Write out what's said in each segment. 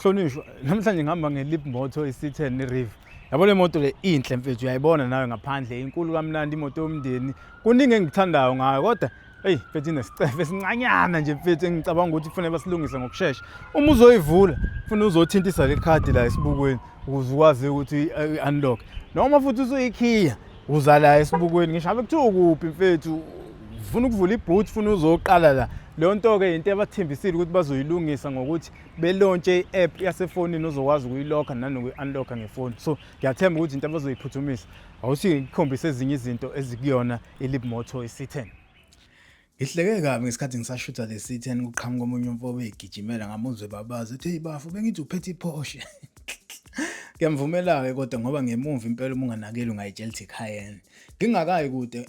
Hlonishwa, namhlanje ngihamba ngelip moto isithen nerive. Yabo le moto le inhle mfethu uyayibona nawe ngaphandle inkulu kamnandi imoto yomndeni. Kuningi engithandayo ngayo kodwa Hey mfethu inesicefe esincanyana nje mfethu engicabanga ukuthi kufanele basilungise ngokushesha. Uma uzoyivula ufuna uzothintisa le card la esibukweni ukuze ukwazi ukuthi eh, unlock. Noma futhi usuyikhiya uza la esibukweni ngisho abe kuthiwa kuphi mfethu ufuna ukuvula iboot ufuna uzoqala la leyo nto-ke yinto ebathembisile ukuthi bazoyilungisa ngokuthi belontshe i-app yasefonini ozokwazi ukuyilokha nanokuyi-unlocka ngefoni so ngiyathemba ukuthi into abazoyiphuthumisa awuthi ngikhombise ezinye izinto ezikuyona ilib moto i-c10 Ngihleke kabi ngesikhathi ngisashutha le C10 kuqhamuka omunye umfobe egijimela ngamuzwe babazi uthi hey bafo bengithi uphethe iPorsche. Ngiyamvumela-ke kodwa ngoba ngemumva impela uma unganakeli ungayitshela ukuthi Cayenne. Ngingakayi kude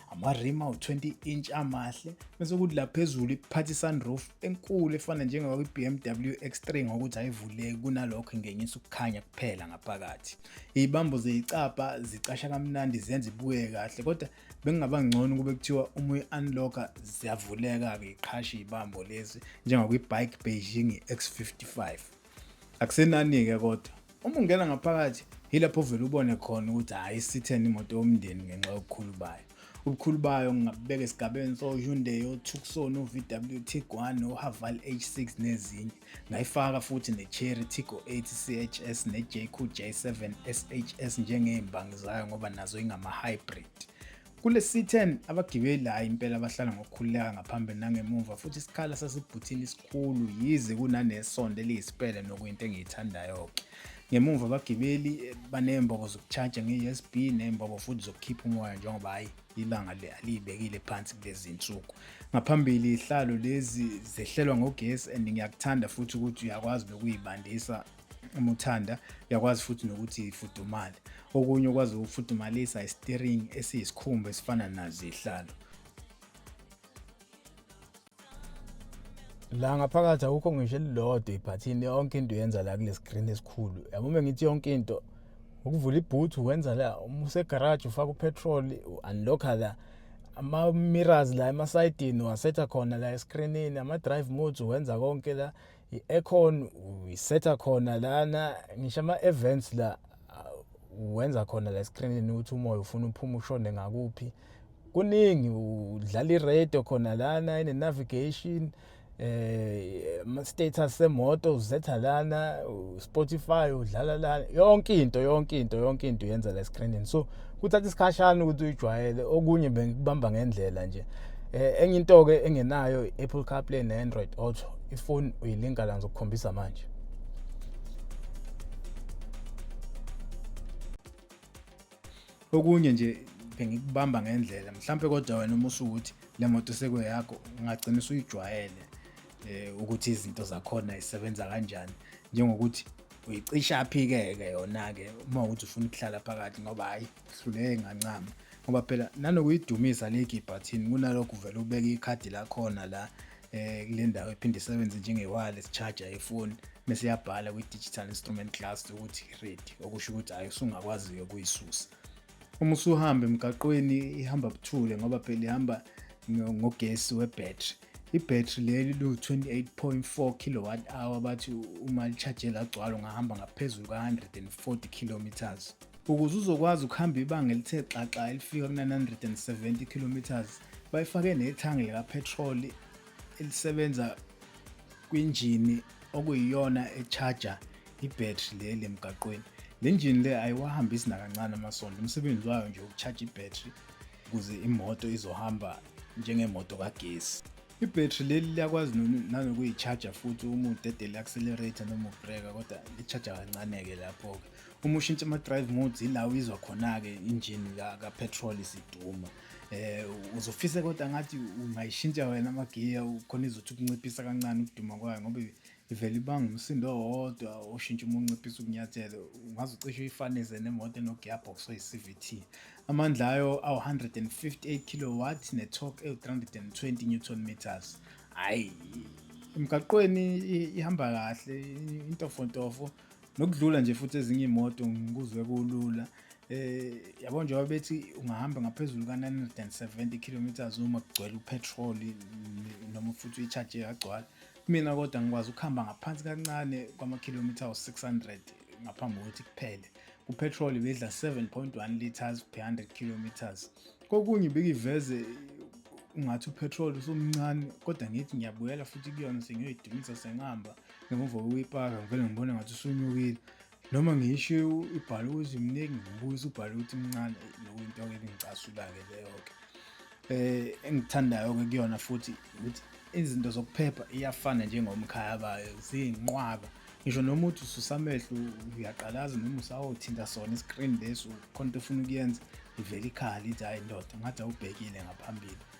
amarima u-20 inch amahle bese kuthi la phezulu iphatha i-sunroof enkulu efana njengoba kwi-bmw x3 ngokuthi ayivuleki kunalokho ingenyisa ukukhanya kuphela ngaphakathi iy'bambo zeyicabha zicasha kamnandi zenza ibuye kahle kodwa bekungaba ngcono kube kuthiwa uma uyi-unlocka ziyavuleka-ke iqhashe iy'bambo lezi njengakwi-bike beijing x55 Akusenani-ke kodwa uma ungena ngaphakathi yilapho uvele ubone khona ukuthi hhayi isitheni imoto yomndeni ngenxa yobukhulu bayo ubukhulu bayo ngingabubeka esigabeni so-hyundai otucson o-vw tiguan o-haval h6 nezinye ngayifaka futhi ne-cherry tigo 8 chs ne-jq j7 shs njengey'mbangi zayo ngoba nazo ingama-hybrid Kule C10 abagibeli hhayi impela bahlala ngokukhululeka ngaphambili nangemuva futhi isikhala sasibhuthini isikhulu yize kunanesonto eliyisipele nokuyinto engiyithandayo-ke. Ngemuva abagibeli eh, banembobo zokutshaja nge-USB nembobo futhi zokukhipha umoya njengoba hhayi ibanga aliyibekile phansi kulezi nsuku. Ngaphambili ihlalo lezi zehlelwa ngogesi and ngiyakuthanda futhi ukuthi uyakwazi nokuyibandisa uma uthanda uyakwazi futhi nokuthi ifudumale okunye okwazi ukufudumalisa isiteringi esiyisikhumba esifana nazo ihlalo la ngaphakathi awukho ngisho elilodwa ibhathini yonke into uyenza la kule screen esikhulu yabo uma ngithi yonke into ukuvula ibhuthu wenza la uma usegaraji ufaka upetrol u-unlocka la ama-mirrors la emasayidini wasetha khona la escreenini ama-drive modes wenza konke la i-aircon uyisetha khona lana ngisho ama-events la wenza khona la esikrinini ukuthi umoya ufuna uphuma ushone ngakuphi kuningi udlala iradio khona lana ine-navigation eh ama-status semoto uzetha lana spotify udlala lana yonke into yonke into yonke into uyenza la esikrinini so kuthatha isikhashana ukuthi uyijwayele okunye bengikubamba ngendlela nje eh enye into ke engenayo Apple CarPlay ne Android Auto ifoni uyilinka la ngizokukhombisa manje okunye nje bengikubamba ngendlela mhlampe kodwa wena uma usukuthi le moto sekweyakho ungagcina usuyijwayele eh ukuthi izinto zakhona isebenza kanjani njengokuthi uyicisha aphike-ke yona-ke uma ukuthi ufuna ukuhlala phakathi ngoba hhayi hluleke ngancama ngoba phela nanokuyidumisa le gibhathini kunalokho uvele ubeke ikhadi lakhona la eh kule ndawo ephinde isebenze njenge-wireless charger yefoni bese yabhala kwi-digital instrument class ukuthi ready okusho ukuthi hhayi usungakwazi-ke ukuyisusa uma usuhamba emgaqweni ihamba buthule ngoba phela ihamba ngogesi webhetri ibhetri leli liwu-28.4 kilowatt hour bathi uma lichajela agcwala ungahamba ngaphezulu ka-140 kilometers ukuze uzokwazi ukuhamba ibanga elithe xaxa elifika kuna-170 kilometers bayifake nethangi likaphethroli elisebenza kwinjini okuyiyona echaja ibhetri le lemgaqweni le njini le ayiwahambisi nakancane amasondo umsebenzi wayo nje ukushaja ibhetri ukuze imoto izohamba njengemoto kagesi ibhetri leli liyakwazi nanokuyi-charger futhi uma udedele i-accelerator noma ubreka kodwa li-charger kancane-ke lapho-ke uma ushintsha ama-drive modes ila uyizwa khona-ke injini kapetrol isiduma um uzofise kodwa ngathi ungayishintsha wena amagiya khona izothi ukunciphisa kancane ukuduma kwayo ngoba ivele ibanga umsindo owodwa oshintsha uma unciphisa ukunyathela ungaze ucishe uyifanise nemoto enogearbox oyi-cvt amandla ayo awu-158 kilowatt ne-torque ewu-320 newton meters hhayi emgaqweni ihamba kahle intofontofo nokudlula nje futhi ezinye iy'moto ngikuzwe kulula eh yabo njengoba bethi ungahamba ngaphezulu ka-970 kilometers uma kugcwele upetroli noma futhi uyi-charge yagcwala Mina kodwa ngikwazi ukuhamba ngaphansi kancane kwamakhilomitha awu-600 ngaphambi kokuthi kuphele. Kupetrol bedla 7.1 liters per 100 kilometers. Kokunye ibikiveze ungathi upetrol usumncane kodwa ngithi ngiyabuyela futhi kuyona sengiyoyidumisa sengihamba ngemuva kokuyipaka ngivele ngibone ngathi usunyukile Noma ngisho ibhala ukuthi mningi ngibuye ubhala ukuthi mncane lokho into ke engicasula-ke leyo-ke. Eh engithandayo-ke kuyona futhi ukuthi izinto zokuphepha iyafana njengomkhaya bayo ziyinqwaba. Ngisho noma uthi ususa amehlo uyaqalaza noma usawothinta sona i-screen lesi khona into ofuna ukuyenza ivele ikhala ithi hhayi ndoda ngathi awubhekile ngaphambili.